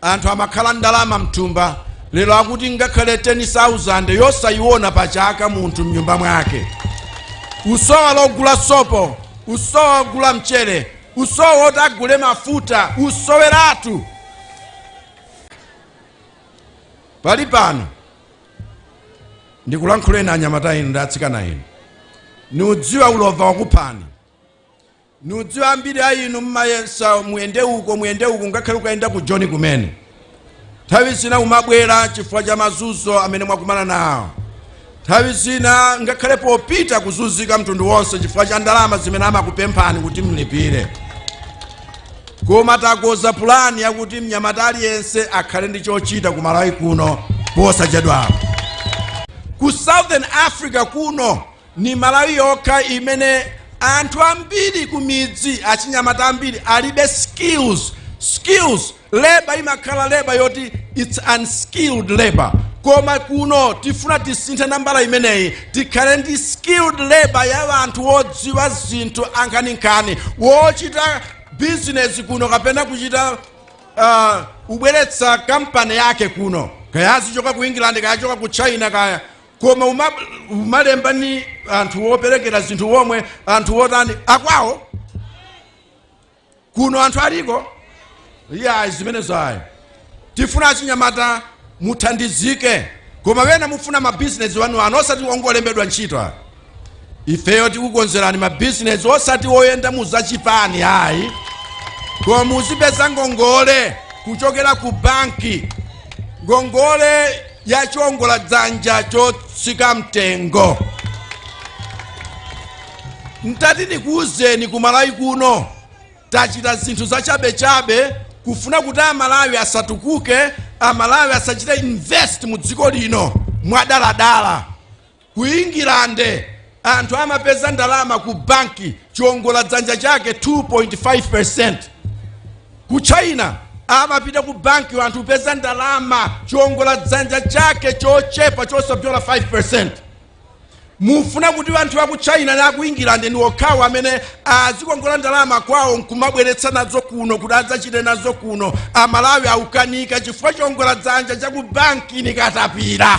Anthu amakhala ndalama mthumba lero akuti ngakhale 10,000 yosayiwona pa chaka munthu mnyumba mwake. Usowa logulira sopo, usowa ogula mchere, usowa oti agule mafuta, usoweratu. Pali pano ndikulankhuleni anyamata inu ndi atsikana inu, nikudziwa ulova wakuphani. Nikudziwa ambiri a inu mumayesa muyende uko muyende uku ngakhale ukayenda ku Joni kumene. Nthawi zina umabwera chifukwa cha mazunzo amene mwakumana nawo. Nthawi zina ngakhale popita kuzunzika mtundu wonse chifukwa cha ndalama zimene amakupemphani kuti mlipire. Koma takonza pulani yakuti mnyamata aliyense akhale ndi chochita ku Malawi kuno posachedwapa. Ku Southern Africa kuno Ni Malawi yokha imene anthu ambiri kumidzi, achinyamata ambiri alibe skills, skills, labour imakhala labour yoti its unskilled labour koma kuno tifuna tisinthe nambala imeneyi tikhale ndi skilled labour ya wanthu wodziwa zinthu ankhaninkhani wochita bizinesi kuno kapena kuchita uh, ubweretsa kampani yake kuno kaya azichoka ku england kaya achoka ku china kaya koma uma, umalemba ni anthu woperekera zinthu womwe anthu wotenga akwawo kuno anthu aliko iyayi zimenezo ayi tifuna achinyamata muthandizike koma wena mufuna mabizinesi wanuwanu osati ongolembedwa ntchito ayi ifeyo tikukonzerani mabizinesi osati woyenda mu zachipani ayi koma muzipeza ngongole kuchokera ku banki ngongole ya chiongola dzanja chotsika mtengo ntati ndikuwuzeni ku malawi kuno tachita zinthu zachabechabe kufuna kuti amalawi asatukuke amalawi asachite invest mu dziko lino mwadaladala Ku England, anthu amapeza ndalama ku banki chiongola dzanja chake 2.5%. Ku China, amapita ku banki anthu kupeza ndalama chiongola dzanja chake chochepa chosapyola 5%. Mufuna kuti anthu a ku China ndi a ku England ndi okhawo amene azikongola ndalama kwawo nkumabweretsa nazo kuno kuti adzachite nazo kuno. Amalawi akukanika chifukwa chiongola dzanja cha ku banki ndi katapira.